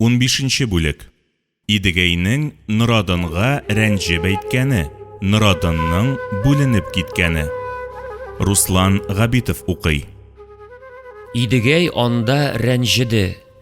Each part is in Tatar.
Унбишенче бүлек Идегәйнең Норадынга рәнҗеп әйткәне, Норадынның бүленеп киткәне. Руслан Габитов укый. Идегәй анда рәнҗеде.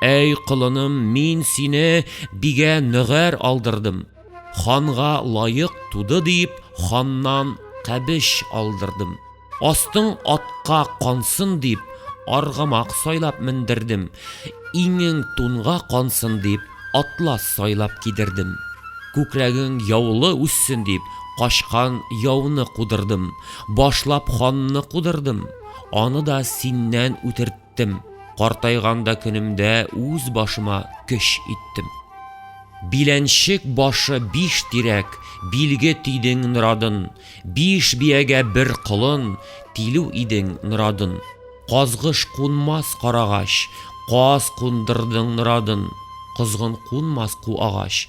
Әй, колыным, мин сине бигә нөгәр алдырдым, ханга лаек туды дип, ханнан кәбеш алдырдым. Астың атка кансын дип, аргамак сайлап мендердем, иңең тунга кансын дип, атлас сайлап кидердем. Күкрәгең яулы үссен дип, качкан яуны кудырдым, башлап ханны кудырдым, аны да синнән үтертеп, иттем, картайган да көнемдә үз башыма көч иттем. Биләнчек башы биш тирәк, билге тидең норадын, биш биягә бер колын, тилү идең норадын. Казгыш кунмас карагач, каз кундырдың норадын, козгын кунмас ку агач,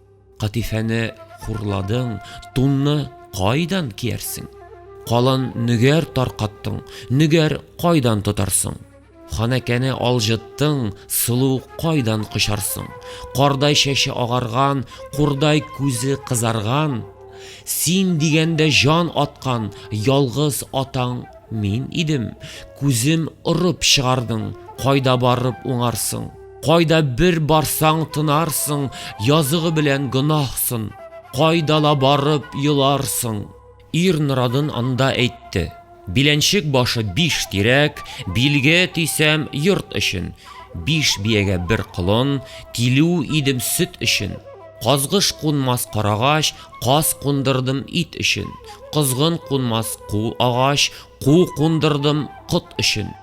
Катифәне хурладың, тунны кайдан киярсең? Калын нигәр таркаттың, нигәр кайдан тотарсың? Ханәкәне алҗыттың, сылу кайдан кочарсың? Кардай чәче агарган, курдай күзе кызарган, син дигәндә җан аткан ялгыз атаң мин идем, күзем орып чыгардың, кайда барып уңарсың? Кайда бер барсаң тынарсың, языгы белән гөнаһсын. Кайда ла барып еларсың. Ир норадын анда әйтте. Биләнчек башы биш тирәк, билге тисәм йорт өчен. Биш биягә бер колон, килү идем сөт өчен. Казгыш кунмас карагач, каз кундырдым ит өчен. Козгын кунмас ку агач, ку кундырдым кот өчен.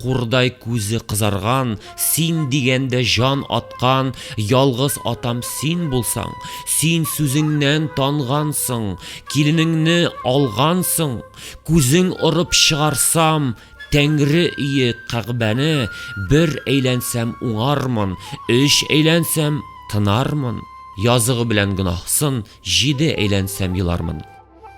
Курдай күзе кызарган, Син дигәндә җан аткан Ялгыз атам син булсаң, Син сүзеңнән тангансың, Киленеңне алгансың, Күзең орып чыгарсам, Тәңре өе Кәгъбәне, Бер әйләнсәм уңармын, Өч әйләнсәм тынармын, Языгы белән гөнаһсын, Җиде әйләнсәм елармын.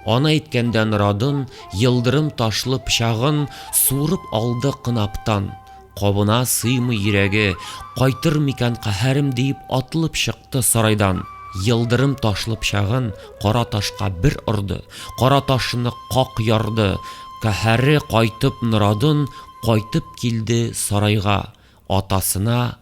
Ана әйткәндән радын, Елдырым ташлы пчагын Суырып алды кынаптан. Кабына сыймый йөрәге, Кайтыр микән каһәрем диеп Атлып чыкты сарайдан. Елдырым ташлы пчагын Кара ташка бер орды, Кара ташны как ярды. Каһәре кайтып норадын, Кайтып килде сарайга. Атасына.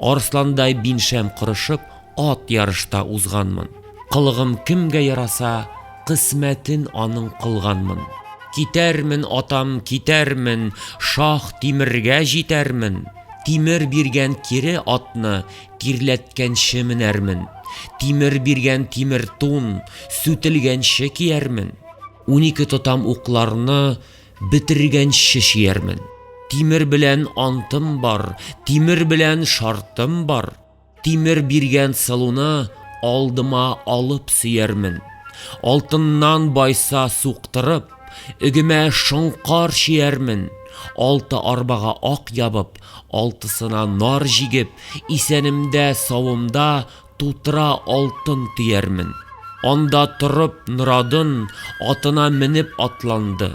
Арысландай биншәм кырышып, ат ярышта узганмын. Кылыгым кемгә яраса, кысмәтен аның кылганмын. Китәрмен, атам, китәрмен, шах тимергә җитәрмен. Тимер биргән кире атны тирләткәнче менәрмен. Тимер биргән тимер тун сүтелгәнче киярмен. Унике тотам укларны Бетергәнче чиярмен. Тимер белән антым бар, тимер белән шартым бар. Тимер биргән сылуны алдыма алып сөярмен. Алтыннан байса суктырып, үгемә шоңкар чиярмен. Алты арбага ак ябып, алтысына нар җигеп, исәнемдә, савымда Тутыра алтын төярмен. Анда торып Норадын атына менеп атланды.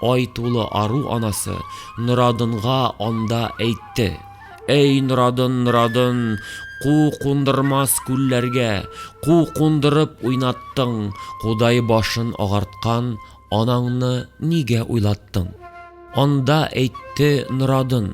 Ай тулы ару анасы Норадынга анда әйтте. Әй Норадын, Норадын, ку кундырмас күлләргә, ку кундырып уйнаттың, кудай башын агарткан анаңны нигә уйлаттың? Анда әйтте Норадын.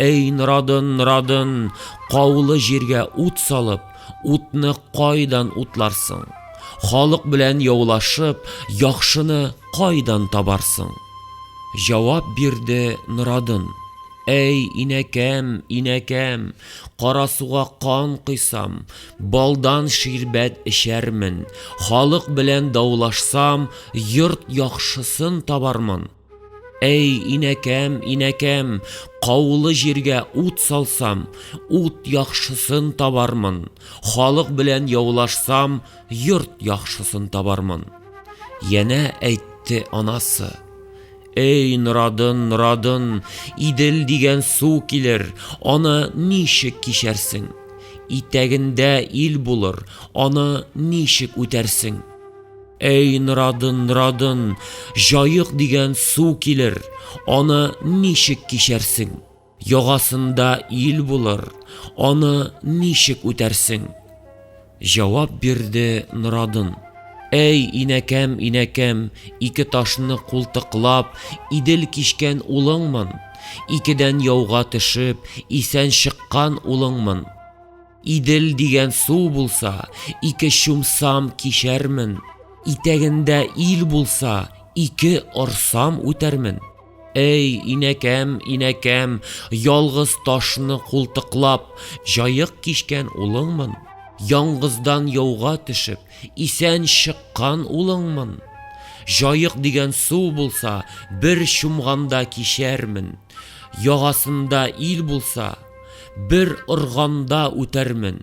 Әй, Норадын, Норадын, каулы җиргә ут салып, утны кайдан утларсың? Халык белән яулашып, яхшыны кайдан табарсың? Җавап бирде Норадын. Әй, инәкәм, инәкәм, карасуга кан кыйсам, балдан ширбәт эчәрмен, халык белән даулашсам, йорт яхшысын табармын. Әй, инәкәм, инәкәм, каулы җиргә ут салсам, ут яхшысын табармын, халык белән яулашсам, йорт яхшысын табармын. Янә әйтте анасы. Әй, Норадын, Норадын, Идел дигән су килер, аны ничек кичәрсең? Итәгендә ил булыр, аны ничек үтәрсең? Әй, Норадын, Норадын, җаек дигән су килер, аны ничек кичәрсең? Ягасында ил булыр, аны ничек үтәрсең? Җавап бирде Норадын. Әй, инәкәм, инәкәм, ике ташны култыклап, идел кичкән улыңмын, икедән яуга төшеп, исән чыккан улыңмын. Идел дигән су булса, ике чумсам кичәрмен. Итәгендә ил булса, ике орсам үтәрмен. Әй, инәкәм, инәкәм, ялгыз ташны култыклап, җаек кичкән улыңмын. Яңгыздан яуга төшеп, исән чыккан улыңмын. Җаек дигән су булса, бер чумганда кичәрмен. Ягасында ил булса, бер органда үтәрмен,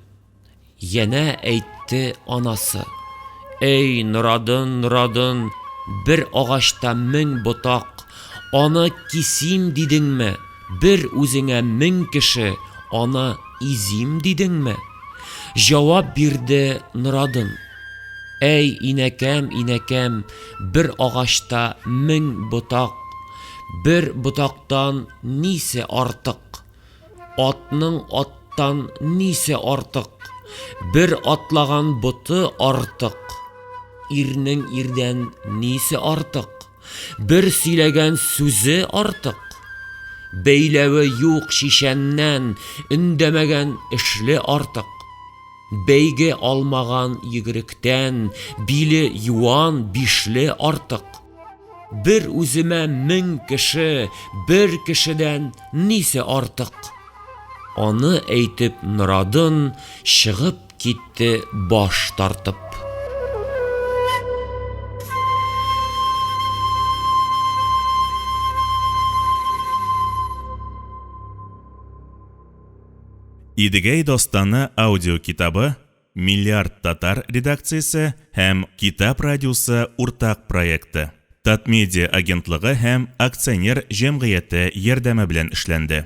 янә әйтте анасы. Эй, Норадын, Норадын, бер агачта мең ботак, аны кисим дидеңме? Бер үзеңә мең кеше, аны изим дидеңме? Җавап бирде Норадын. Әй, инәкәм, инәкәм, бер агачта мең ботак, Бер ботактан нисе артык? Атның аттан нисе артык? Бер атлаган боты артык. Ирнең ирдән нисе артык? Бер сөйләгән сүзе артык. Бәйләве юк шишәннән өндәмәгән эшле артык. Бәйге алмаган егеректән биле юан бишле артык. Бер үземә мең кеше, бер кешедән нисе артык? Аны әйтеп Норадын чыгып китте баш тартып. Идегәй дастаны аудиокитабы Миллиард татар редакциясе һәм Китап радиосы уртак проекты, Татмедиа агентлыгы һәм акционер җәмгыяте ярдәме белән эшләнде.